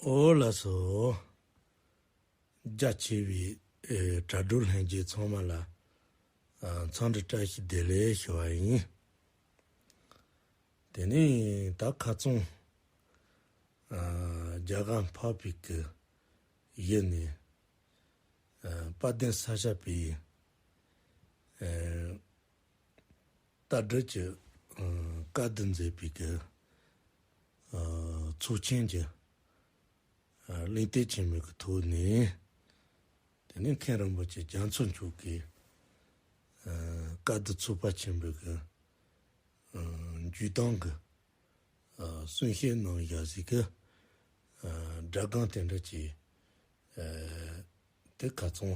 འོ་ལ་སོ། རྒྱ་ཆེ་བའི་དྲ་གྲོགས་ལྷན་རྒྱས་ཚང་མ་ལ་འཚམས་འདྲི་བཀྲ་ཤིས་བདེ་ལེགས་ཞུ་བ་ཡིན། དེ་ནས་ད་ཁ་བཙུམ། རྒྱ་གར་འཕགས་པའི་སྐུ་ཡི་ནས་དཔལ་ལྡན་ས་སྐྱ་པའི་ལྟ་སྒྲིལ་གྱི་བཀའ་བསྡུ་མཛད་པའི་སྐབས། ཚོགས་ཆེན་གྱི་གླེང་སྟེགས་ཆེན་མོའི་ཐོག་ནས། དེ་ནས་མཁན་རིན་པོ་ཆེ་རྒྱ་མཚོ་མཆོག་གིས་བཀའ་བསྡུ་ཚོགས་པ་ཆེན་པོའི་བརྒྱུད་གཏམ་གྱི་གསུང་བཤད་གནང་བཞག་གཟིགས་ཀྱི་སྒྲ་སྒང་དེ་འདྲ་བྱས། དེ་ག་ཚང་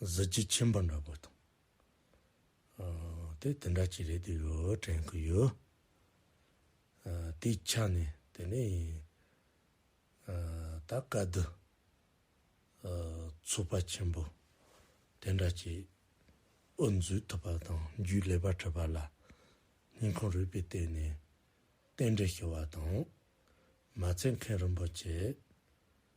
གཟི་བརྗིད་ཆེན་པོ་འདྲ་པོ་དང། དེ་དེ་འདྲ་གཅིག་རེད་འདུག་ཡོད་དྲན་གི་ཡོད། དེའི་ཆ་ནས་དེ་ནས་ད་སྐབས་འདི་ཚོགས་པ་ཆེན་པོ་དེ་འདྲ་གཅིག་དབུ་འཛུགས་ཐུབ་པ་དང་རྒྱུའི་ལས་པ་ཁྲིད་པ་ལ་སྙིང་ཁོང་རུས་པའི་སྟེང་ནས་རྟེན་འབྲེལ་ཞུ་བ་དང། མ་ཚད་མཁན་རིན་པོ་ཆེ་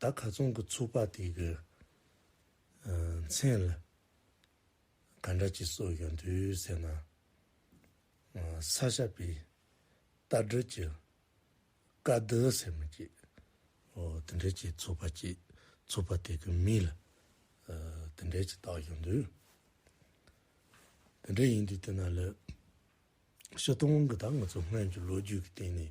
ད་ག་ཚོང་གི་ཚུགས་པ་དེ་གི་མཚན་ལ་ག་འདྲ་གྱི་སྲོལ་ཡོད་འདུག་ཟེར་ན། ས་ཞབས་པའི་རྟ་སྒྲིལ་གྱི་བཀའ་སྡོད་ཟེར་མི་གཅིག་དེ་འདྲས་ཀྱི་ཚུགས་པ་གཅིག་ཚུགས་པ་དེ་གི་མིང་ལ་དེ་འདྲས་ཀྱི་བཏགས་ཡོད་འདུག་དེ་འདྲས་ཡིན་དུས་དེ་ན་ལོས་ཤི་སྟོང་གི་ད་ང་ཚོ་སྔོན་གྱི་ལོ་རྒྱུས་ཀྱི་སྟེང་ནས།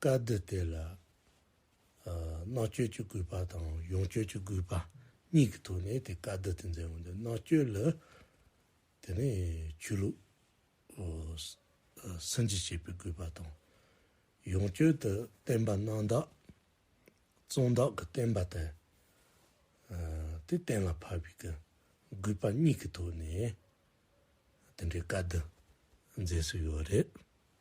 བཀའ་བསྡུ་དེ་ལ་མནའ་གཅོད་ཀྱི་གུས་པ་དང་ཡོངས་གཅོད་ཀྱི་གུས་པ་གཉིས་ཀྱི་ཐོག་ནས་དེ་བཀའ་བསྡུ་དེ་མཛད་འོང་དུས་མནའ་གཅོད་ལ་དེ་ནས་ཆོས་ལུགས་སུན་འབྱིན་བྱེད་པའི་གུས་པ་དང། ཡོངས་གཅོད་དུ་བསྟན་པ་གནང་བདག་གཙོ་བདག་གི་བསྟན་པ་དེ་དེ་གཏན་ལ་ཕབ་པའི་གུས་པ་གཉིས་ཀྱི་ཐོག་ནས་དེ་འདྲའི་བཀའ་བསྡུ་མཛད་སྲོལ་ཡོད་རེད།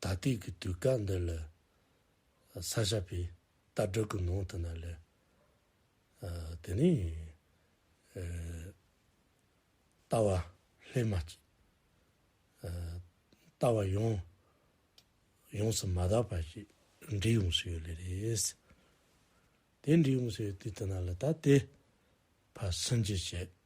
ད་ལྟའི་གི་དུས་སྐབས་འདི་ལ་ས་ཞབས་པའི་རྟ་བསྒྲགས་ཀྱི་ནང་དུ་ན་ལས་དེ་ནས་རྟ་བ་ལྷས་མ་ཅིག་རྟ་བ་ཡོངས་ཡོངས་སུ་མ་དག་པ་ཞིག་འབྲི་ཡོང་སུ་ཡོད་ལེ་རེད། དེ་འབྲི་ཡོང་སུ་ཡོད་དུས་དུ་ན་ལ་ད་དེ་ཕ་སུན་འབྱིན་བྱེད།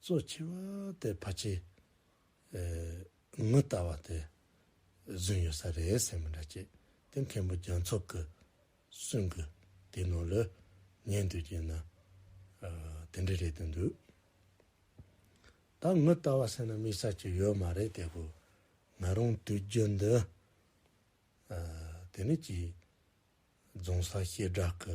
གཙོ་ཆེ་བ་དེ་ཕ་ཆེ། མི་ལྟ་བ་དེ་བཟུང་ཡོད་ས་རེད་སེམས་མི་འདྲ་ཅེས་དེ་མཁན་པོ་རྒྱ་མཚོ་གི་གསུང་གི་དེ་ནང་ལ་ཉན་དུས་ཀྱི་ན་དེ་འདྲ་རེད་དུ་འདུག་ད་མི་ལྟ་བ་ཟེར་ན་དམིགས་ས་ཅིག་ཡོད་མ་རེད་དེ་གོ་ང་རང་དུས་རྒྱུན་འདི་དེ་ནི་གྱིས་རྫོང་ས་གཤིས་སྦྲག་གི་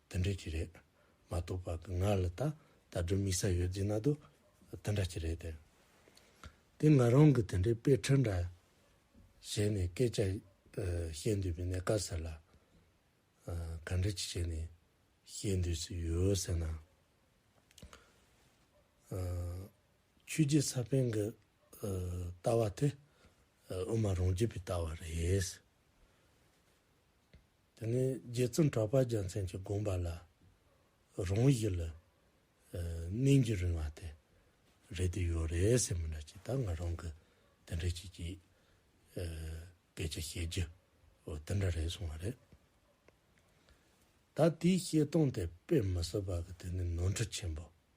དེ་འདྲ་གྱི་རེད་མ་གཏོགས་པ་ང་ལ་ད་ད་དུ་དམིགས་ས་ཡོད་རྫིག་ན་དུ་དེ་འདྲ་གྱི་རེད་དེ། ང་རང་གི་དེ་འདྲའི་དཔེ་ཁྲིད་འདྲ་བྱས་ནས་སྐད་ཆ་བཤད་འདོད་པའི་གནད་ཀ་ཟེར་ལ། ག་འདྲ་གྱི་བྱས་ནས་བཤད་འདོད་ཟི་ཡོད་ཟེར་ན། ཆོས་རྗེ་ས་པན་གྱི་ལྟ་བ་དེ་དབུ་མ་རང་རྒྱུད་པའི་ལྟ་བ་རེད། དེ་ནས་རྗེ་བཙུན་གྲགས་པ་རྒྱལ་མཚན་གྱི་དགོངས་པ་ལ། རང་བཞིན་ལ་གནས་འགྱུར་རིང་བ་དེ་རེད་དེ་ཡོད་རེད་ཟེར་མི་འདྲ་ཅིག་ད་ང་རང་གི་དེ་འདྲ་ཅིག་གིས་སྐད་ཆ་བཤད་རྒྱུ་དེ་འདྲ་རེད་གསུངས་བ་རེད། ད་དེའི་བཤད་སྟངས་དེ་དཔེ་མི་སྲིད་པ་གི་དེ་ནི་ནོར་འཁྲུལ་ཆེན་པོ་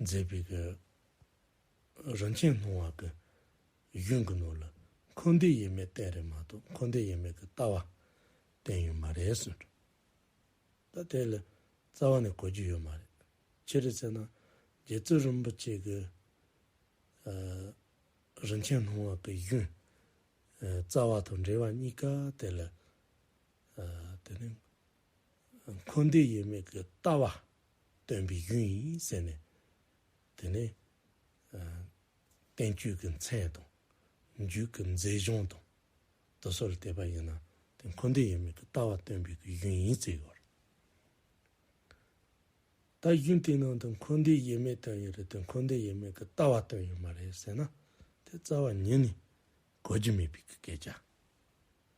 མཛེས་པའི་གོས། རིན་ཆེན་སྣང་བ་གོས། གཞུང་གི་ནོར་ལ་འཁོར་འདས་དབྱེར་མེད་བསྟན་རེད་མ་གཏོགས་འཁོར་འདས་དབྱེར་མེད་ཀྱི་ལྟ་བ་བསྟན་ཡོད་མ་རེད་ཟེར། ད་དེ་ལ་རྩ་བ་ནས་གོ་རྒྱུ་ཡོད་མ་རེད། ཅི་རེད་ཟེར་ན། རྗེ་བཙུན་རིན་པོ་ཆེ་གི། རིན་ཆེན་སྣང་བ་གོས་གཞུང། རྩ་བ་དང་འབྲེལ་བ་གཉིས་ཀ་དེ་ལ། དེ་ནི། འཁོར་འདས་ཡོད་མེད་ཀྱི་ལྟ་བ་སྟོན་པའི་ཡུལ་ཡིན་ཟེར་ནས། དེ་ནི་བསྟན་བཅོས་ཀྱི་མཚན་དང། རྒྱུད་ཀྱི་མཛེས་ལྗོངས་དང། དུ་སོར་བལྟས་པ་ཡིན་ན་དེ་འཁོར་འདས་ཡོད་མེད་ཀྱི་ལྟ་བ་སྟོན་པའི་ཡུལ་ཡིན་ཟེར་ཡོད། ད་གཞུང་དེའི་ནང་དུ་འཁོར་འདས་ཡོད་མེད་སྟོན་ཡོད་རེད་དེ་འཁོར་འདས་ཡོད་མེད་ཀྱི་ལྟ་བ་སྟོན་ཡོད་མ་རེད་ཟེར་ན་དེ་རྩ་བ་ཉིད་ནས་གོ་རྒྱུ་མེད་པའི་སྐད་ཆ།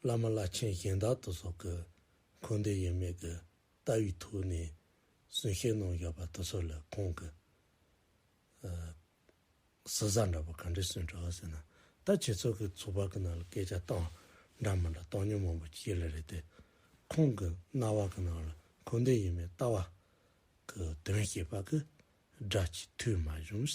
བླ་མ་བླ་ཆེན་གཞན་དག་ཏུ་སོགས་ཀྱི་འཁོར་འདས་དབྱེར་མེད་ཀྱི་ལྟ་བའི་ཐུགས་ནས་གསུང་བཤད་གནང་བཞག་པ་དེ་ཚོ་ལ་ཁོང་གིས། གཟི་གཟར་འདྲ་པོ་ག་འདྲས་གསོན་དྲགས་ཟེར་ན། ད་ཁྱེད་ཚོ་གིས་ཚོགས་པ་གི་ནང་ལ་སྐད་ཆ་བཏང་འདྲ་མིན་འདྲ་བཏང་མྱོང་མང་པོ་བྱས་ལ་རེད་དེ། ཁོང་གི་རྣ་བ་གི་ནང་ལ་འཁོར་འདས་དབྱེར་མེད་ལྟ་བ་གི་དོན་བཤད་པ་གི་སྒྲ་གཅིག་ཐོས་མ་བྱུང།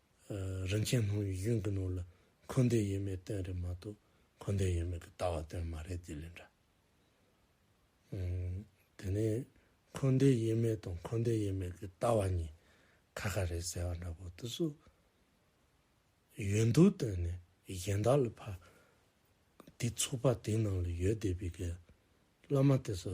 རིན་ཆེན་སྣང་བའི་གཞུང་གི་ནང་ལ་འཁོར་འདས་ཡོད་མེད་སྟོན་རེད་མ་གཏོགས་འཁོར་འདས་ཡོད་མེད་ཀྱི་ལྟ་བ་སྟོན་མ་རེད་དེ་ལས་འདྲ། དེ་ནས་འཁོར་འདས་ཡོད་མེད་དང་འཁོར་འདས་ཡོད་མེད་ཀྱི་ལྟ་བ་གཉིས་ཁ་ཁ་རེད་ཟེར་བ་འདྲ་པོ་དུ་སུ་ཡོད་འདུག་བལྟས་ནས་གཞན་དག་ལ་ཕ་དེ་ཚོགས་པ་དེའི་ནང་ལ་ཡོད་བསྡད་པའི་གི་བླ་མ་དེ་ཚོ་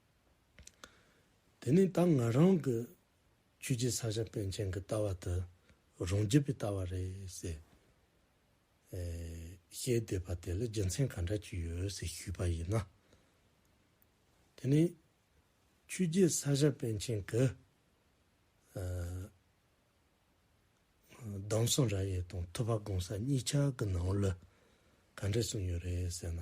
དེ་ནས་ད་ང་རང་གི་ཁྱོད་ཀྱི་ས་ཞབས་པན་ཆེན་གྱི་ལྟ་བ་དེ་རང་རྒྱུད་པའི་ལྟ་བ་རེད་ཟེར། བཤད་བསྡད་པ་དེ་ལ་རྒྱུ་མཚན་ག་འདྲ་ཅིག་ཡོད་ཟེར་ཞུས་པ་ཡིན་ན། དེ་ནས་ཁྱོད་ཀྱི་ས་ཞབས་པན་ཆེན་གྱི་གདམས་གསུང་ར་ཡས་དང་ཐུབ་པ་གོང་ས་གཉིས་ཆ་གི་ནང་ལ་ག་འདྲ་གསུངས་ཡོད་རེད་ཟེར་ན།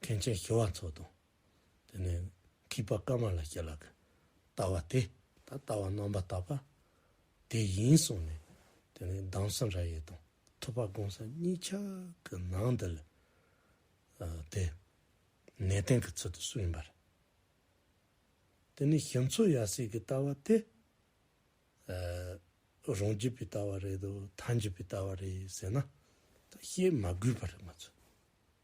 མཁན་ཆེན་ཞི་བ་འཚོ་དང། དེ་ནས་འཁྱིལ་པ་ཀ་མ་ལ་ཤཱི་ལ་ཀ། ལྟ་བ་དེ་ད་ལྟ་བ་རྣམ་པར་དག་པ། དེ་ཡིན་གསུངས་ནས། དེ་ནས་གདམས་སམ་ར་ཡས་དང་ཐུབ་པ་དགོངས་ས་གཉིས་ཆ་གི་ནང་འདི་ལ། དེ་ནས་བསྟན་གྱི་ཚུལ་དུ་སུ་ཡིན་པར། དེ་ནས་ཞི་འཚོ་ཡ་སྲས་ཀྱི་ལྟ་བ་དེ། རང་རྒྱུད་པའི་ལྟ་བ་རེད་དོ་མཐའ་འཇུག་པའི་ལྟ་བ་རེད་ཟེར་ན། བཤད་མ་དགོས་པར་ང་ཚོས།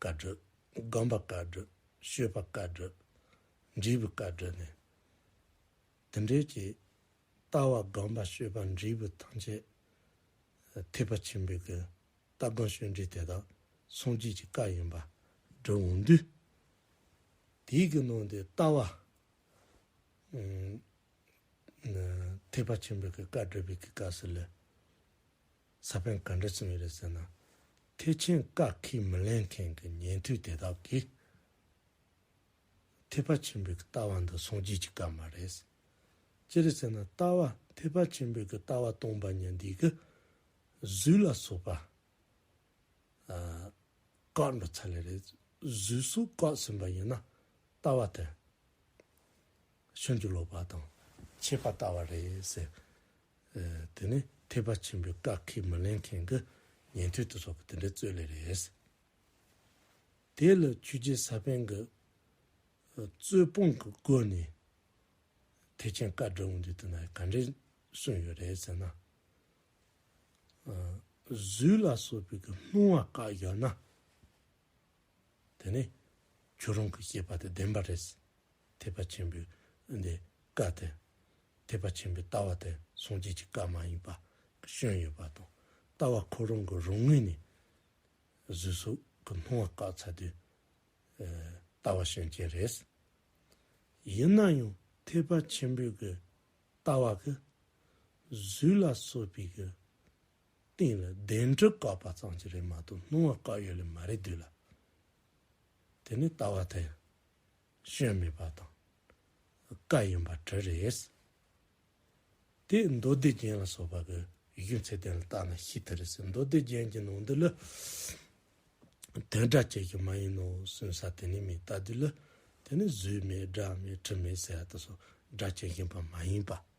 བཀའ་བགྲོས། དགོན་པ་བཀའ་བགྲོས། ཤོད་པ་བཀའ་བགྲོས། འབྲས་བུ་བཀའ་བགྲོས་ནས། དེ་འབྲེལ་གྱི། ལྟ་བ་དགོན་པ་ཤོད་པ་འབྲས་བུ་ཐམས་ཅད། ཐེག་པ་ཆེན་པོའི་སྐུ། ལྟ་དགོན་ཤོད་འབྲས་དེ་དག་ཟུང་བསྐྱེད་ཀྱི་བཀའ་ཡིན་པ། འགྲོ་འོང་དུས། དེའི་གི་ནང་དུ་ལྟ་བ། ཐེག་པ་ཆེན་པོའི་སྐུ་བཀའ་བགྲོས་པའི་གི་བཀའ་སུ་ལུས། ས་བོན་ག་འདྲ་བྱུང་ཡོད་རེད་ཟེར་ན། ཐེག་ཆེན་བཀའ་ཁས་མི་ལེན་མཁན་གྱི་ཉན་ཐོས་དེ་དག་གིས། ཐེག་པ་ཆེན་པོའི་ལྟ་བ་འདི་སྲུང་བྱེད་ཀྱི་སྐབས་མ་རེད། ཅི་རེད་ཟེར་ན་ལྟ་བ་ཐེག་པ་ཆེན་པོའི་ལྟ་བ་སྟོང་པ་ཉིད་འདི་གི་གཟུགས་ལ་སོགས་པ་བཀག་འགྲོ་ཚར་ལེ་རེད། གཟུགས་སོགས་བཀག་ཟིན་པ་ཡིན་ན་ལྟ་བ་དེ། ཤིན་ཏུ་ལོག་པ་དང་ཆད་པ་ལྟ་བ་རེད་ཟེར། དེ་ནི་ཐེག་པ་ཆེན་པོའི་བཀག་ཁས་མི་ལེན་མཁན་གྱི་ཉན་ཐོས་དེ་ཚོ་གི་དེ་འདྲའི་རྩོད་ལས་རེད། དེ་ལ་ཆོས་རྗེ་ས་པན་གྱི་རྩོད་སྤོང་གི་སྒོ་ནས་ཐེག་ཆེན་བཀའ་སྒྲུབ་འོང་དུས་དེ་ན་ག་འདྲའི་གསུངས་ཡོད་རེད་ཟེར་ན། གཟུགས་ལ་སོགས་པའི་སྣང་བ་བཀག་ཡོད་ན། དེ་ནས་ཁྱོད་རང་གི་བཤད་པ་དེ་བདེན་པ་རེད། ཐེག་པ་ཆེན་པོའི་འདི་བཀའ་དེ། ཐེག་པ་ཆེན་པོའི་ལྟ་བ་དེ་སངས་རྒྱས་ཀྱི་བཀའ་མ་ཡིན་པ་བྱོན་ཡོད་པ་དང་ལྟ་བ་ཁོ་རང་གི་རང་ངོས་ནས་གཟུགས་སོགས་ཀྱི་སྣང་བ་བཀག་ཚར་དུས་ཀྱི་ལྟ་བ་བྱོན་རྐྱེན་རེད། ཡིན་ན་ཡང་ཐེག་པ་ཆེན་པོའི་གི་ལྟ་བ་གིས་གཟུགས་ལ་སོགས་པའི་གི་སྟེང་ལ་གདན་གྲི་བཀག་པ་ཙམ་གྱིས་རེད་མ་གཏོགས་སྣང་བ་བཀག་ཡོད་ལེ་མ་རེད་དུས་ལ་དེ་ནི་ལྟ་བ་དེ་ཞོན་མེད་པ་དང་བཀའ་ཡིན་པ་གྲི་རེད། དེས་མདོ་སྡེ་རྒྱན་ལ་སོགས་པ་གི་གཞུང་ཚད་ལྡན་ལ་བརྟགས་ན་ཤིས་ཐི་རི་སི་མདོ་སྡེ་རྒྱན་གྱི་ནང་དུ་ལི་དོན་སྒྲ་བཅས་ཀྱི་མ་ཡིན་ནོ་གསུང་ས་དེ་ནི་མེད་ལྟ་དུས་ལ་དེ་ནི་གཟུགས་མེད་སྒྲ་མེད་དྲི་མེད་ཟེར་བ་དེ་སོགས་སྒྲ་བཅས་བཞིན་པ་མ་ཡིན་པ།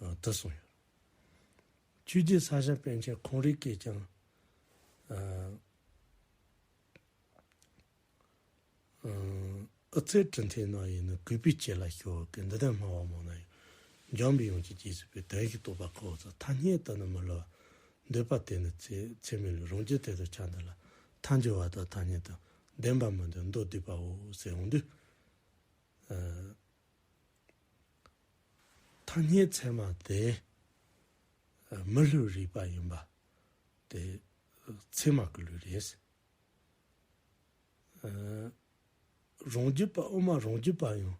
དུ་གསུངས་ཡོད། ཆོས་རྒྱུད་ས་ཞིང་དཔོན་ཆེན་ཁོང་རིགས་ཀྱིས་ཀྱང། ཨུ་ཚའི་གྲུ་འཐེན་ནང་ཡིན་ནོ་གུས་པས་ཁྱེད་ལ་ཞུ་འོ་ཀི་འདི་ལྟར་སྨྲ་བ་མང་ན་ཡང། འཇམ་པའི་ཡོངས་ཀྱི་རྗེས་སུ་ཕུལ་དོན་ཞིག་རྟོགས་པ་ཁོ་བོ་ཚོ་ཐ་སྙད་དུ་ནི་མི་སླུ་བ། འདོད་པ་དེ་ནི་ཚད་མི་སླུ་རང་རྒྱུད་དེ་དུ་ཆ་འདི་ལ་ཐ་འཇུ་བ་དང་ཐ་སྙད་དུ་བདེན་པ་མི་འདོད་མདོ་སྡུད་པའོ་ཟེར་འོང་དུས། ཐ་སྙད་ཚད་མ་དེ་མི་ལུས་རིག་པ་ཡིན་པ་དེ་ཚད་མ་གི་ལུས་རེད། རང་རྒྱུད་པ་དབུ་མ་རང་རྒྱུད་པ་ཡང་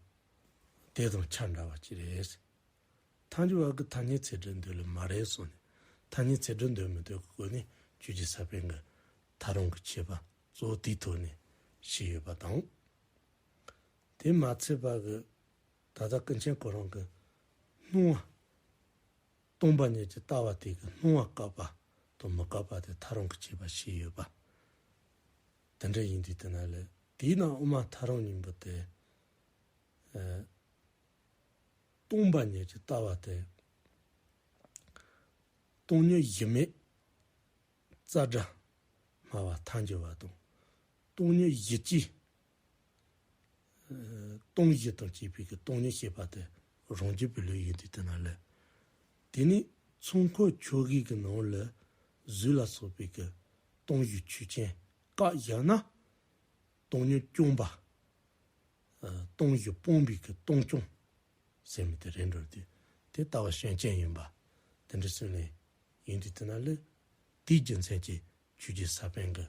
དེ་དང་ཆ་འདྲ་བ་གཅིག་རེད། ཐང་ཅིག་བར་གྱི་ཐ་སྙད་ཚད་འདྲི་འདོད་ལས་མ་རེད་གསུངས་ནས་ཐ་སྙད་ཚད་འདྲི་འདོད་མི་འདོད་ཀྱི་སྒོ་ནས་རྒྱུད་ཀྱི་ས་པན་གྱི་ད་རུང་གི་ཁྱད་པར་གཙོ་བོ་དེའི་ཐོག་ནས་ཤེས་ཡོད་པ་དང། དེ་མ་ཚད་པར་གྱི་ད་ལྟ་ཀུན་མཁྱེན་ཁོ་རང་གི་སྣང་བ། སྟོང་པ་ཉིད་ཀྱི་ལྟ་བ་དེ་གི་སྣང་བ་བཀག་པ་དང་མི་བཀག་པ་དེ་ཐག་རང་གི་བྱས་པ་ཞིག་ཡོད་པ། དེ་འདྲ་ཡིན་དུས་དེ་ན་ལས་དེའི་ནང་དབུ་མ་ཐག་རང་སྙིང་པོ་དེ། སྟོང་པ་ཉིད་ཀྱི་ལྟ་བ་དེ། སྟོང་ཉིད་གཞི་མེད་རྩ་སྒྲ་སྨྲ་བ་མཐའ་འགྱུར་བ་དང། སྟོང་ཉིད་གཞི་གཅིག། སྟོང་གཞི་དང་བཅས་པའི་སྟོང་ཉིད་ཤེས་པ་དེ་རང་རྒྱུད་པའི་ལུས་ཡིན་ཏེ་དེ་ན་ལས། དེ་ནས་ཚོགས་འཁོར་ཆོས་དབྱིངས་ཀྱི་ནང་ལས་གཟུགས་ལ་སོགས་པའི་སྟོང་གཞི་ཆོས་ཅན་བཀག་བཞག་ན། སྟོང་ཉིད་སྐྱོང་པ། སྟོང་གཞི་སྤོང་བའི་སྟོང་སྐྱོང། ཟེར་མི་དེ་རེད་འགྲོ་དེ་དེ་ལྟ་བ་ཤན་ཅན་ཡིན་པ། དེ་འདྲ་སེམས་ལས། ཡིན་ཏེ་དེ་ན་ལས། དེའི་རྒྱུ་མཚན་གྱིས་ཆོས་རྒྱུད་ས་པཎ་གྱི།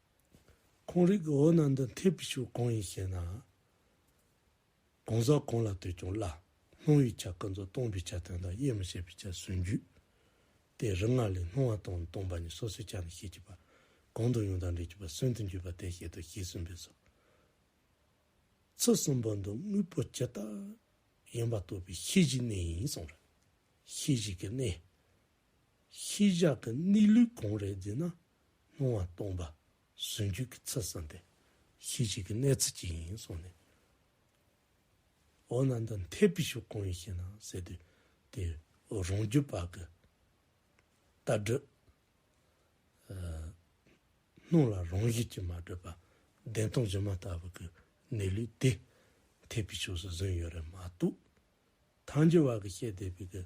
ཁོང་རིགས་འོད་སྣང་འདི་འཐད་པའི་ཕྱོགས་གང་ཡིན་ཞེ་ན། གང་ཟག་གང་ལ་ལྟོས་ཀྱང་བླ་སྣང་བའི་ཆ་ཀུན་ཏུ་སྟོང་པའི་ཆ་དོན་དང་དབྱེར་མི་ཕྱེད་པའི་ཆ་ཟུང་བརྒྱུད་དེ་རིགས་ལྔ་ལས་སྣང་བ་དང་སྟོང་པ་ནི་སོ་སོའི་ཆ་ནི་ཤེས་བྱེད་པ་གང་དུ་ཡང་དག་འབྲེལ་གྱི་བར་སུན་དུ་འཇུག་པ་དེ་བཤད་དོ་ཞེས་གསུངས་པས་སོ། ཚུལ་གསུམ་པོ་འདི་དངོས་པོ་ཇི་ལྟར་ཡིན་པ་རྟོགས་པའི་ཤེས་བྱའི་གནས་ཡིན་གསུངས། ཤེས་བྱེད་ཀྱི་གནས། ཤེས་བྱ་དང་གནས་ལུགས་གང་རེད་ཟེར་ན་སྣང་བ་སྟོང་པ་ཟུང་འཇུག་གི་ཚུལ་བསམ་པའི་ཤེས་བྱེད་ཀྱི་གནས་ཚུལ་གཅིག་ཡིན་གསུངས་ནས། འོ་ན་འདི་མཐའི་བི་ཤུ་གང་ཡིན་ཤེ་ན་ཟེར་དུས་དེ་རང་རྒྱུད་པ་གི་ལྟ་གྲུབ་སྣང་ལ་རང་བཞིན་གྱིས་མ་གྲུབ་པ་བདེན་སྟོང་སྒྱུ་མ་ལྟ་བུ་གི་གནས་ལུགས་དེ་མཐའི་བི་ཤུ་སུ་བཟུང་ཡོད་རེད་མ་གཏོགས། ཐང་ཅིག་བར་གྱི་བཤད་བསྡད་པའི་གི་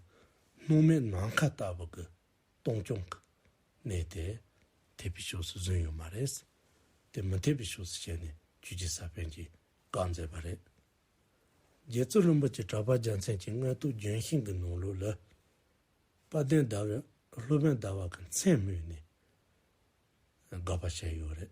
སྣུམ་མེད་ནམ་མཁའ་ལྟ་བུ་གི་སྟོང་སྐྱོང་གི་གནད་དེ་འཐད་པའི་ཕྱོགས་སུ་བཟུང་ཡོད་མ་རེད། དེ་མི་འཐད་པའི་ཕྱོགས་སུ་བྱས་ནས་ཆོས་རྒྱལ་ས་པན་གྱིས་བཀའ་མཛད་པ་རེད། རྗེ་བཙུན་རིན་པོ་ཆེ་གྲགས་པ་རྒྱལ་མཚན་གྱི་མངལ་དུ་ལྗོན་ཤིང་གི་ནང་ལོགས་ལ། དཔལ་ལྡན་ཟླ་བའི་སློབ་དཔོན་ཟླ་བ་གི་མཚན་སྨོས་ནས་དགག་པ་བྱས་ཡོད་རེད།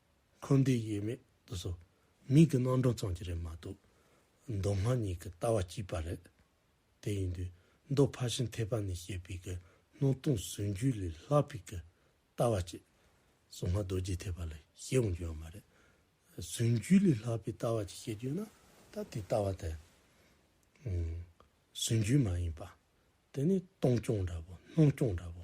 ཁོང་འདི་ཡེ་མེད་དུ་སོ། མིག་གི་རྣམ་གྲངས་ཙམ་གྱིས་རེད་མ་གཏོགས། མདོ་སྔགས་གཉིས་ཀྱི་ལྟ་བ་གཅིག་པ་རེད། དེ་ཡིན་དུས་མདོ་ཕ་ཤིང་ཐེག་པ་ནས་བཤད་པའི་གི་སྣང་སྟོང་ཟུང་འཇུག་ལས་ལྷག་པའི་གི་ལྟ་བ་གཅིག་གསུང་སྔགས་རྡོ་རྗེ་ཐེག་པ་ལ་བཤད་འོང་རྒྱུ་ཡང་མ་རེད། ཟུང་འཇུག་ལས་ལྷག་པའི་ལྟ་བ་གཅིག་བཤད་རྒྱུ་ན་ད་དེ་ལྟ་བ་དེ། ཟུང་འཇུག་མ་ཡིན་པ། དེ་ནི་སྟོང་སྐྱོང་འདྲ་བོ་སྣང་སྐྱོང་འདྲ་བོ།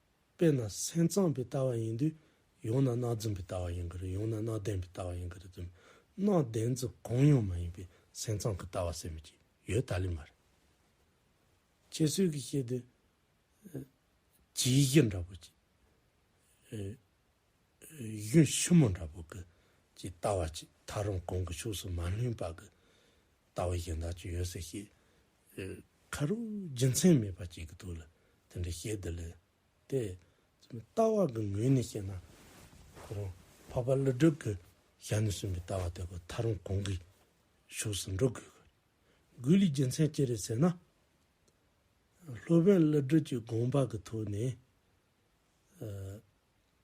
དཔེར་ན་སེམས་ཙམ་པའི་ལྟ་བ་ཡིན་དུས་ཡང་ན་སྣང་རྫུན་པའི་ལྟ་བ་ཡིན་གྱི་རེད་ཡང་ན་སྣང་བདེན་པའི་ལྟ་བ་ཡིན་གྱི་རེད་དུས་སྣང་བདེན་རྫུན་གང་ཡང་མ་ཡིན་པའི་སེམས་ཙམ་གྱི་ལྟ་བ་ཟེར་མི་ཀྱི་ཡོད་ད་ལི་མ་རེད། ཁྱེད་ཚོས་གིས་བཤད་དུས་གྱི་གཞི་འདྲ་པོ་གྱི་གཞུང་ཞིབ་མོ་འདྲ་པོ་གྱི་ཀྱི་ལྟ་བ་ཀྱི་ད་རུང་གང་གི་ཕྱོགས་སུ་མ་ལྷུང་པ་གྱི་ལྟ་བ་གཞན་དག་ཀྱི་ཡོད་ཟེར་ཤེས། ཁ་རུ་རྒྱུ་མཚན་མེད་པར་སྐྱེ་གི་འདུག་ལ་དེ་འདྲ་ཤེས་དེ་ལས་དེ། ལྟ་བ་གི་ངོས་ནས་བཤད་ན། ཁོ་རང་འཕགས་པ་ཀླུ་སྒྲུབ་ཀྱི་ཞལ་ནས་གསུངས་པའི་ལྟ་བ་དེ་ཀོ་ཐར་རང་གོང་གི་ཕྱོགས་སུ་འགྲོ་དགོས་གི། དགོས་ལུགས་རྒྱུ་མཚན་ཅི་རེད་ཟེར་ན། སློབ་དཔོན་ཀླུ་སྒྲུབ་ཀྱི་དགོངས་པ་གི་ཐོག་ནས།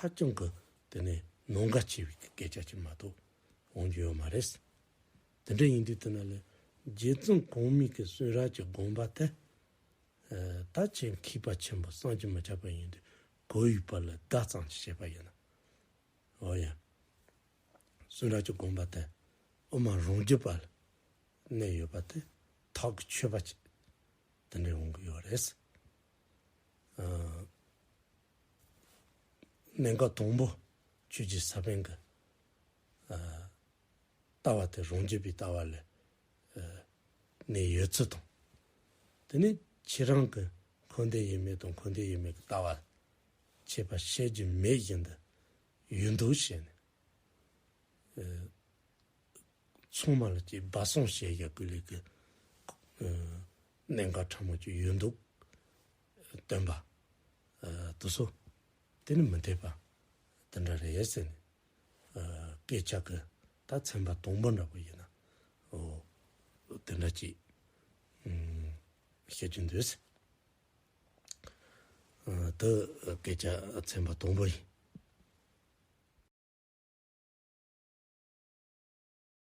ཧ་ཅང་གི་དེ་ནས་ནོངས་དགའ་ཆེ་བའི་སྐད་ཆ་ཅིག་མ་གཏོགས་འོང་རྒྱུ་ཡོད་མ་རེད། དེ་འདྲ་ཡིན་དུས་དེ་ན་ལས་རྗེ་བཙུན་གོང་སྨིན་གྱི་གསོན་ར་གྱི་དགོངས་པ་དེ་ད་ཆའི་མཁས་པ་ཆེན་པོ་སངས་རྒྱས་མི་ཆགས་པ་ཡིན་དུས་གོ་ཡི་བར་ལ་བརྡ་ཙམ་ཞིག་བྱས་པ་ཡིན་ནམ། འོ་ཡང། གསོན་ར་གྱི་དགོངས་པ་དེ་དབུ་མ་རང་རྒྱུད་པ་ལ་གནས་ཡོད་པ་དེ་དག་གི་ཆོས་པ་ཅིག་དེ་འདྲས་འོང་གི་ཡོད་རེད། སྨན་ཁ་དང་པོ་ཆོས་ཀྱི་ས་བོན་གྱི་ལྟ་བ་སྟེ་རང་རྒྱུད་པའི་ལྟ་བ་ལས་ནས་ཡོད་ཚུལ་དང། དེ་ནས་ཁྱེད་རང་གི་འཁོན་འདས་ཡོད་མེད་དང་འཁོན་འདས་ཡོད་མེད་ཀྱི་ལྟ་བ་འཆད་པ་བཤད་རྒྱུ་མེད་བཞིན་དུ་ཡོད་འདུག་བྱས་ནས། ཚང་མ་ལ་སྐྱེས་སྦ་གསང་བཤད་བཞག་གི་ལས་ཀྱི་གནད་འགག་ཕྲ་མོ་གཅིག་ཡོད་འདུག་སྟོན་པ། དུ་སོ། དེ་ནི་མི་འཐད་པ། དེ་འདྲ་རེད་ཟེར་ནས། སྐད་ཆ་གི་ད་ཚན་པ་དང་པོ་འདྲ་པོ་ཡིན་ན། དེ་འདྲ་ཅིག། བཤད་རྒྱུ་འདུག། དེ་སྐད་ཆ་ཚན་པ་དང་པོ་ཡིན།